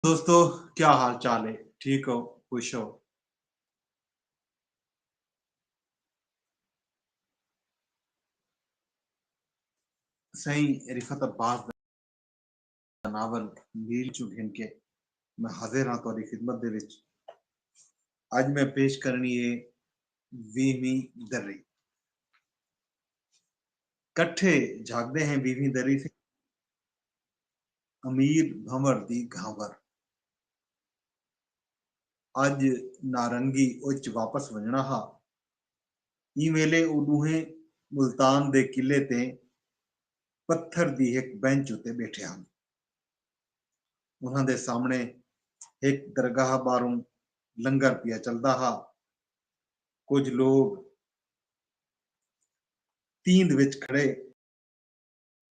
دوستو کیا حال چال ہے ٹھیک ہو خوش ہو سائیں رفت عباس دا ناول نیل چوں گھن کے میں حاضر ہاں تہاڈی خدمت دے وچ اج میں پیش کرنی ہے ویہویں دری کٹھے جھاگدے ہیں ویہویں دری سے امیر بھنور دی گھانور۔ اڄ نارنگی اچ واپس ونڄݨا ہا۔ ایں ویلے او ݙوہیں ملتان دے قلعے تے پتھر دی ہک بینچ اتے ٻیٹھے ہن۔ انہاں دے سامݨے ہک درگاہ ٻاہروں لنگر پیا چلدا ہا۔ کجھ لوک تیند وچ کھڑے۔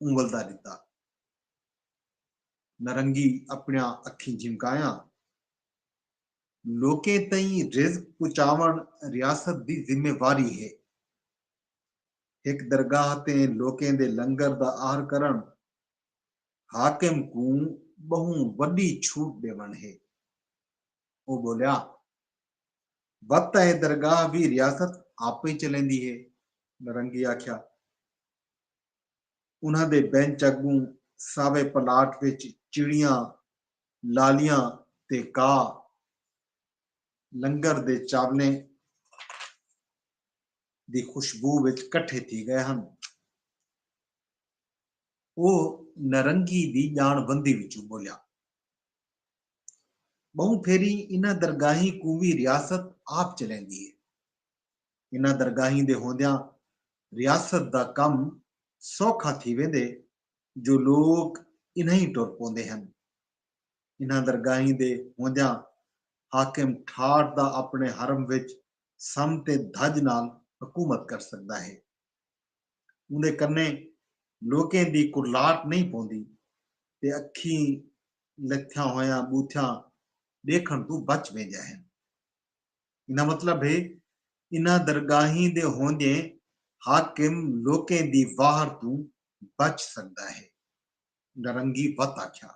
اونگلدا ݙتا۔ نرنگی اپݨیاں اکھیں جھمکایاں۔ لوکیں تئیں رزق پچاوݨ ریاست دی ذمہ واری ہے۔ ہک درگاہ تے لوکیں دے لنگر دا آہر کرݨ حاکم کوں ٻہوں وݙی چھوٹ ݙیوݨ ہے۔ او ٻولیا۔ وت اے درگاہ وی ریاست آپے چلیندی ہے۔ نرنگی آکھیا۔ انہاں دے بینچ اڳوں ساوے پلاٹ وچ چڑیاں، لالیاں تے کاہ لنگر دے چاولیں دی خوشبو وچ کٹھے تھی ڳئے ہن۔ اوہ نرنگی دی ڄاݨ وندی وچوں ٻولیا۔ ٻہوں پھیری انہاں درگاہیں کوں وی ریاست آپ چلیندی ہے۔ انہاں درگاہیں دے ہوندیاں ریاست دا کم سوکھا تھی ویندے جو لوک انہائیں ٹر پوندے ہن۔ انہاں درگاہیں دے ہوندیاں حاکم ٹھاٹ دا اپݨے حرم وچ سم تے دھڄ نال حکومت کر سڳدا ہے۔ اوندے کنیں لوکیں دی کرلاٹ نئیں پوندی تے اکھیں لتھیاں ہویاں ٻوتھیاں ݙیکھݨ توں بچ ویندیاں ہن۔ ایندا مطلب ہے انہاں درگاہیں دے ہوندیں حاکم لوکیں دی واہر توں بچ سڳدا ہے، نرنگی وت آکھیا۔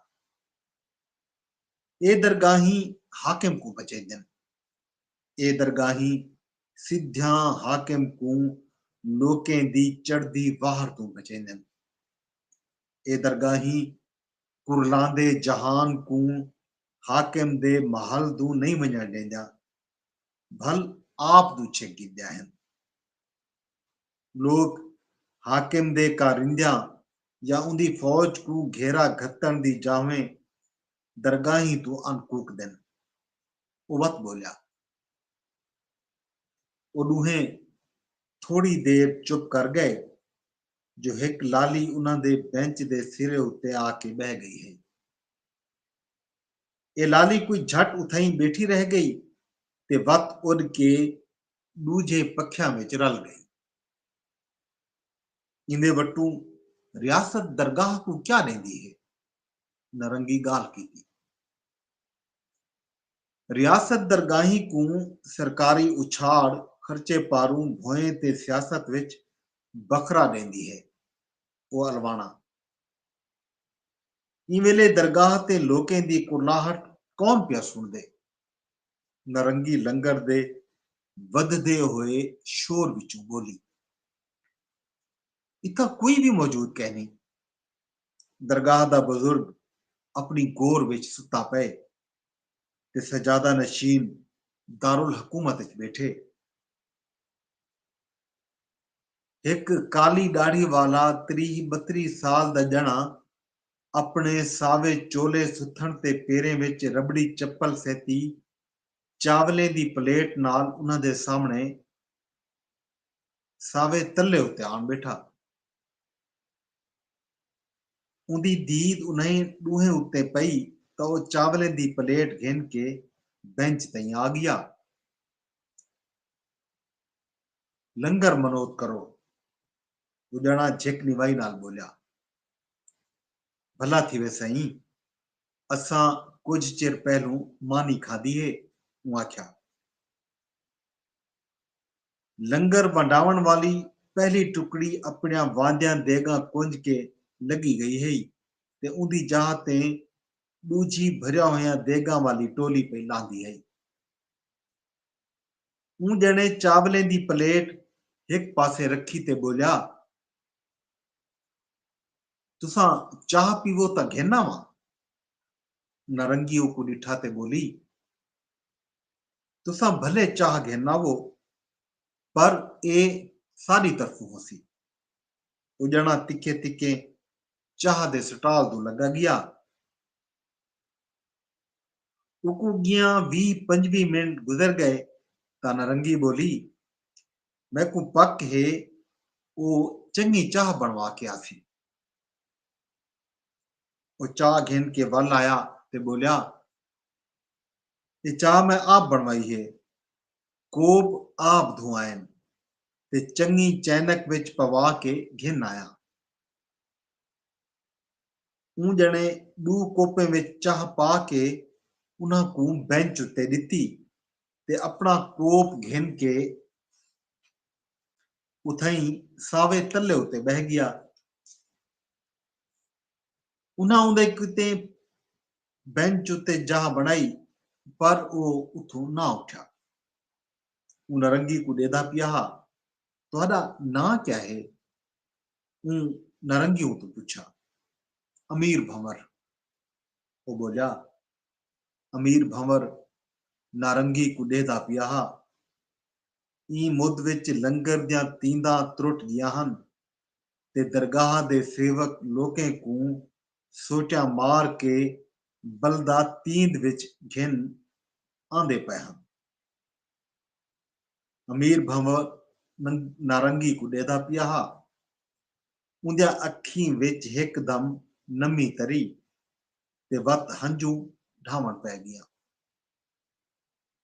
اے درگاہیں حاکم کوں بچیندن۔ اے درگاہیں سدھیاں حاکم کوں لوکیں دی چڑھدی واہر توں بچیندن۔ اے درگاہیں کرلاندے جہان کوں حاکم دے محل دوں نئیں ونڄݨ ݙیندیاں بھل آپ دوں چھک گھدیاں ہن۔ لوک حاکم دے کارندیاں یا اوندی فوج کوں گھیرا گھتݨ دی جاہویں درگاہیں توں ان کوکدن۔ او وت ٻولیا۔ او ݙوہیں تھوڑی دیر چپ کر ڳئے جو ہک لالی انہاں دے بینچ دے سرے اتے آ کے ٻہہ ڳئی ہئی۔ اے لالی کوئی جھٹ اتھائیں ٻیٹھی رہ ڳئی تے وت اݙ کے ݙوجھے پکھیاں وچ رل ڳئی۔ ایندے وٹوں ریاست درگاہ کوں کیا ݙیندی ہے؟ نرنگی ڳالھ کیتی۔ ریاست درگاہیں کوں سرکاری اچھاڑ خرچے پاروں بھوئیں تے سیاست وچ بکھرا ݙیندی ہے۔ او الواݨاں۔ ایں ویلے درگاہ تے لوکیں دی کرلاہٹ کون پیا سݨدے؟ نرنگی لنگر دے ودھدے ہوئے شور وچوں ٻولی۔ اتھاں کوئی وی موجود کینھی۔ درگاہ دا بزرگ اپݨی گور وچ ستا پئے۔ تے سجادہ نشین دارالحکومت اچ ٻیٹھے۔ ہک کالی ݙاڑھی والا تریہہ ٻتریہہ سال دا ڄݨا اپݨے ساوے چولے ستھݨ تے پیریں وچ رٻڑی چپل سہتی چاولیں دی پلیٹ نال انہاں دے سامݨے ساوے تلے اتے آن ٻیٹھا۔ اوندی دید انھیں ݙوہیں اتے پئی تاں او چاولیں دی پلیٹ گھن کے بینچ تئیں آ ڳیا۔ لنگر منوت کرو، او ڄݨاں جھک نوائی نال ٻولیا۔ بھلا تھیوے سئیں، اساں کجھ چر پہلوں مانی کھادی ہے، اوں آکھیا۔ لنگر ونڈاونڑ والی پہلی ٹکڑی اپنڑیاں واندیاں دیگاں کنج کے لگی گئی ہئی تے اوندی جاہ تے ڈوجھی بھریا ہویاں دیگاں والی ٹولی پئی لاہندی ہئی۔ اوں جنے چاولیں دی پلیٹ ہک پاسے رکھی تے بولیا۔ تساں چاہ پیوو تاں گھن آواں۔ نارنگی اوکوں ڈٹھا تے بولی۔ تساں بھلے چاہ گھناوو پر ایہ ساݙی طرفوں ہوسی۔ او ڄݨاں تکھے تکھے چاہ دے سٹال توں لڳا ڳیا۔ اوکوں ڳیاں ویہہ پنجویہہ منٹ گزر ڳئے تاں نرنگی ٻولی، میکوں پک ہے او چنڳی چاہ بݨوا کے آسی۔ او چاہ گھن کے ول آیا تے ٻولیا، اے چاہ میں آپ بݨوائی ہے کوپ آپ دھوائن تے چنگی چینک وچ پوا کے گھن آیا اوں ڄݨے ݙو کوپیں وچ چاہ پا کے انہاں کوں بینچ اتے ݙتی تے اپݨا کوپ گھن کے اتھائیں ساوے تلے اتے ٻہہ ڳیا انہاں اوندے کیتے بینچ اتے جاہ بݨائی پر او اتھوں نہ اٹھیا۔ اوں نرنگی کوں ݙیہدا پیا ہا، تہاݙا ناں کیا ہے؟ اوں نرنگی اتوں پچھیا۔ امیر بھنور۔ او ٻولیا۔ امیر بھنور نارنگی کوں ݙیہدا پیا ہا۔ ایں مد وچ لنگر دیاں تینداں ترٹ ڳیاں ہن۔ تے درگاہ دے سیوک لوکیں کوں سوچاں مار کے بلدہ تیند وچ گھن آندے پئے ہن۔ امیر بھنور نارنگی کوں ݙیہدا پیا ہا۔ اوندیاں اکھیں وچ ہک دم نمی تری تے وت ہنجوں ڈھاوݨ پئے ڳیاں۔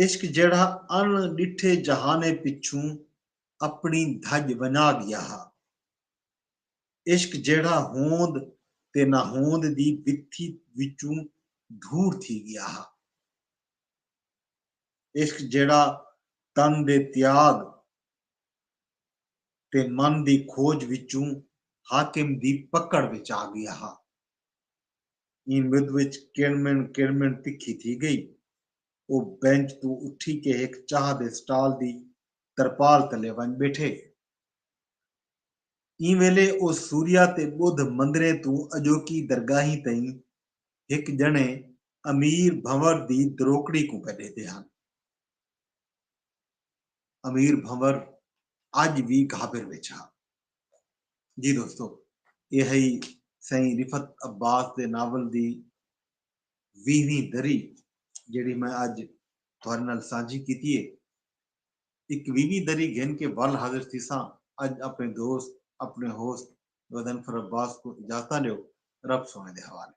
عشق جیڑھا ان ݙٹھے جہانے پچھوں اپݨی دھڄ ونڄا ڳیا ہا عشق جیڑھا ہوند تے نہ ہوند دی وتھی وچوں دھور تھی ڳیا ہا عشق جیڑھا تن دے تیاڳ تے من دی کھوڄ وچوں حاکم دی پکڑ وچ آ ڳیا ہا۔ ایں مدھ وچ کڑمن کڑمن تکھی تھی گئی۔ او بینچ توں اٹھی کے ہک چاہ دے سٹال دی ترپال تلے ونڄ ٻیٹھے۔ ایں ویلے او سوریا تے ٻدھ مندریں توں اڄوکی درگاہیں تئیں ہک ڄݨے امیر بھنور دی دروکڑی کوں پئے ݙیہدے ہن۔ امیر بھنور اڄ وی گھابر وچ ہا۔ جی دوستو اے ہئی سائیں رفعت عباس دے ناول دی ویہویں دری جیڑھی میں اج تہاڈے نال سانجھی کیتی ہے۔ اکویہویں دری گھن کے ول حاضر تھیساں اج اپنے دوست اپنے ہوسٹ غضنفر عباس کوں اجازتاں ڈیو رب سونے دے حوالے۔